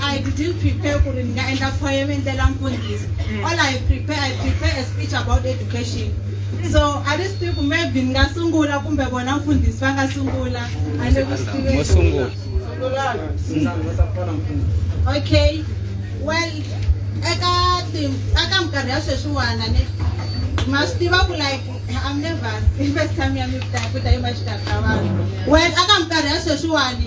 I didn't prepare ku ri ni nga endla poem ni ndlela mfundhisi. Mm. All I prepare, I prepare a speech about education. So I just think maybe ni nga sungula kumbe vona mfundhisi va nga sungula. A ni ku swi Mo sungula. Okay. Well, eka tim eka minkarhi ya sweswiwana ni ma swi tiva ku like I'm nervous. First time ya mi ku ta ku ta yi ma xitaka vanhu. Well, eka minkarhi ya sweswiwani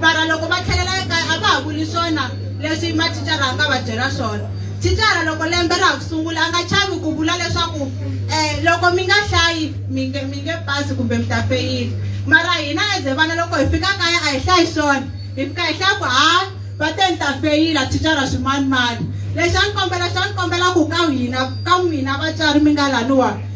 mara loko va tlhelela ekaya a va ha vuli swona leswi mathicara a nga va byela swona thicara loko lembe ra ha ku sungula a nga chavi ku vula leswaku um loko mi nga hlayi mi nge mi nge pasi kumbe mi ta feyile mara hina eze vana loko hi fika kaya a hi hlayi swona hi fika hi hlaya ku hayi va te ni ta feyila thicara swimanimani lexi a ni kombela xa ni kombela ku ka hina ka n'wina vatswari mi nga laniwani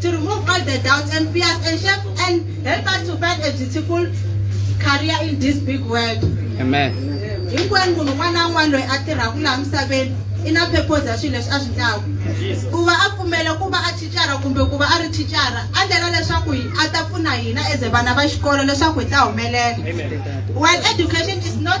to remove all the doubts and fears and shape and help us to find a beautiful career in this big world amen hinkwenu munhu un'wana na un'wana loyi a tirhaka laha misaveni i na purpose ya swilo leswi a swi ndlaku ku va a pfumela ku va a thicara kumbe ku va a ri thicara a ndlela leswaku a ta pfuna hina as vana va xikolo leswaku hi ta humelela while education is not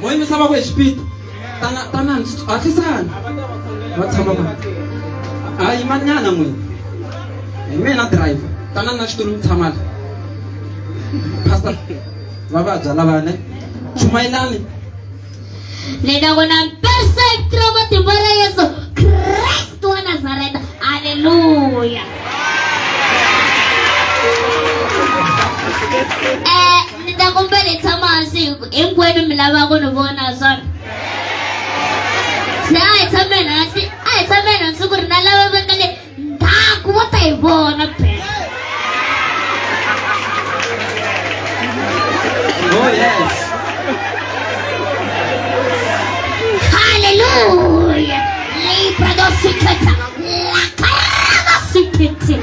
moya misava ku exipito tana tanani hatlisani va tshama va a yimanyana n'wini hi mina driver tanani na xitulu mi tshamala pastor va vabya lavane chumayelani ni ta ku na perfect ra matimba ra yesu kristu wa nazareta halleluya ni ta kumbela hi tshama hansi hinkwenu mi lava ku ni vona swona se a hi tshameni hansi a hi tshameni hansi ku ri na lava va nga le ndzhaku va ta hi vona phela Oh yes. haleluya leyibradosikhetha lakarabasikhethini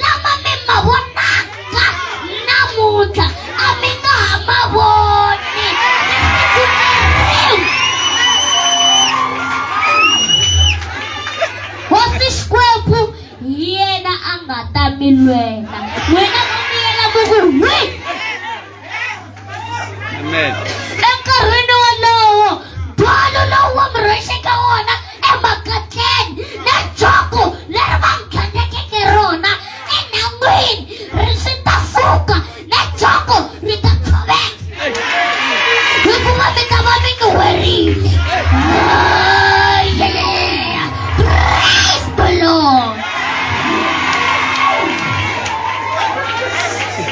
lama mi ma vonaka namuntlha a mi nga ha ma voni hosi xikwembu yena a nga ta mi lwela n'wina Amen. Enkarhini wolowo, bolo lowu wa murhexeka wona emakatleni na joko leri va nghenekeke rona enhangwini ri swi ta fuka na joko ri ta tshoveka hikuva mi ta va mi ni werile Oh, yeah. Praise the Lord.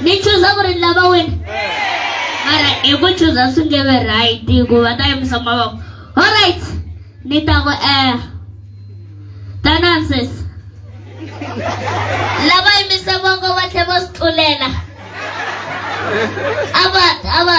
ni chuza ku ri ni lava wena mara hi ku chuza swi nge ve right ku va ta yimisa mavoko all right ni ta ku eh tanansis lava yimisa voko va tlhe va swi tlulela a va a va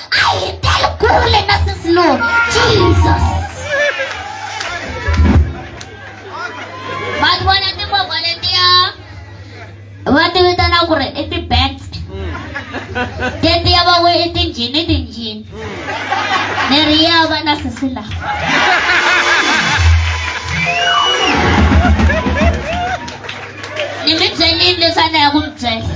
Ay, calculen a sus Lord. Jesus. Vanhu vona timovha letiya va ti vitana ku ri i ti-bats tetiya va we i tinjhini tinjhini ni ri ya va na sisi la ni mi byelini leswi a na ya ku mi byela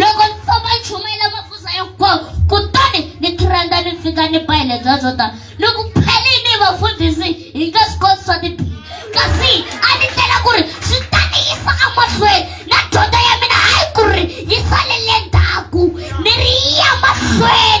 loko ni famba ni chumayela mafusa ya nkoka kutani ni tirhandza ni fika ni ba hi le bya byo tala ni ku phelini vafundhisi hi nga swi koti swa tibihi kasi a ni tlela ku ri swi ta ni yisa emahlweni na dyondzo ya mina hayi ku ri yi salele ndzhaku ni ri yi ya mahlweni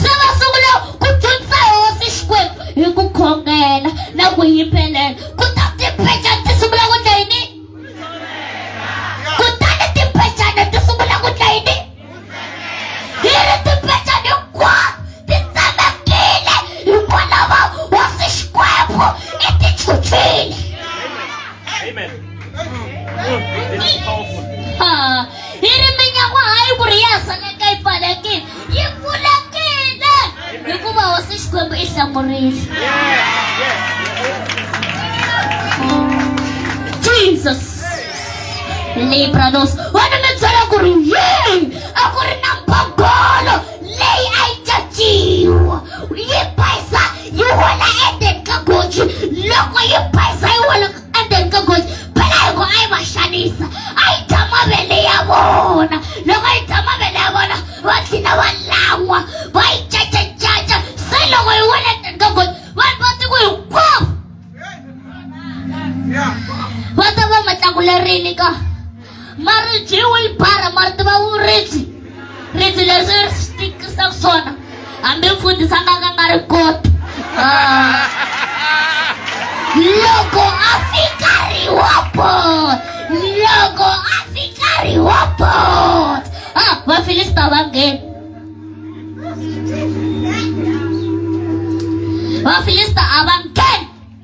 se va sungula ku dyondza hosi xikwembu hi ku khongela na ku yimbelela kuta timpecana ti sungula ku dla yini kutani timpecana ti sungula ku dla yini hi ri timpecana hinkwato ti tsemekile hikwalaho hosi xikwembu i tichuchile hi ri minyaku hayi ku ri ya saleka yi pfalekile yi pfulekile hikuva hosi xikwembu i hlamurile jesus libranos wena mi byela ku ri yeyi a ku ri na mbogolo leyi a yi caciwa yi bayisa yi wela endzeni ka goji loko yi bayisa yi wela ende ni nga goji phela hi ku a yi va xanisa a yi dya mavele ya vona loko yi dya mavele ya vona va tlhina va lan'wa va yi cacacaca se loko yi wele ndzeni ka goji vanhu va tiko hinkwavo va ta va matlakulerile ka maribye u yi bara mari tiva u ribyi ribyi leswi ri swi tikisaka swona hambi mfundhisi a nga ka nga ri koti ah. loko a fika riwapo loko a fika riwapo ah, vafilista va ngheni vafilista a va ngheni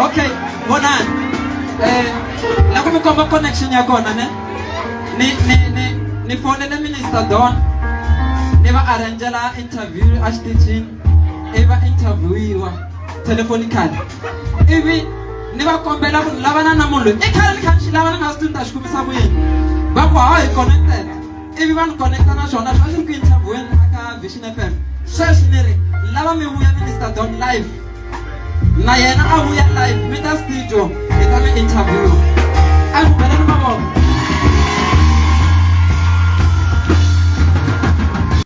okay bona eh nakumi komba connection ya kona ne ni ni ni ni fonele minister don ni va arrangela interview a xitichini i va interviewiwa telefonically ivi ni va kombela ku ni lavana na munhu loyi i khale ni kha ni xi lava ni nga swi twi ni ta xi kumisa ku yini va ku hawa hi connected ivi va ni connecta na swona swi va swi ri ku interviewini la ka vision f m sweswi ni ri lava mi vuya minister don life na yena a vuya life mi ta studio hi ta mi interview a ku bela ni mavoko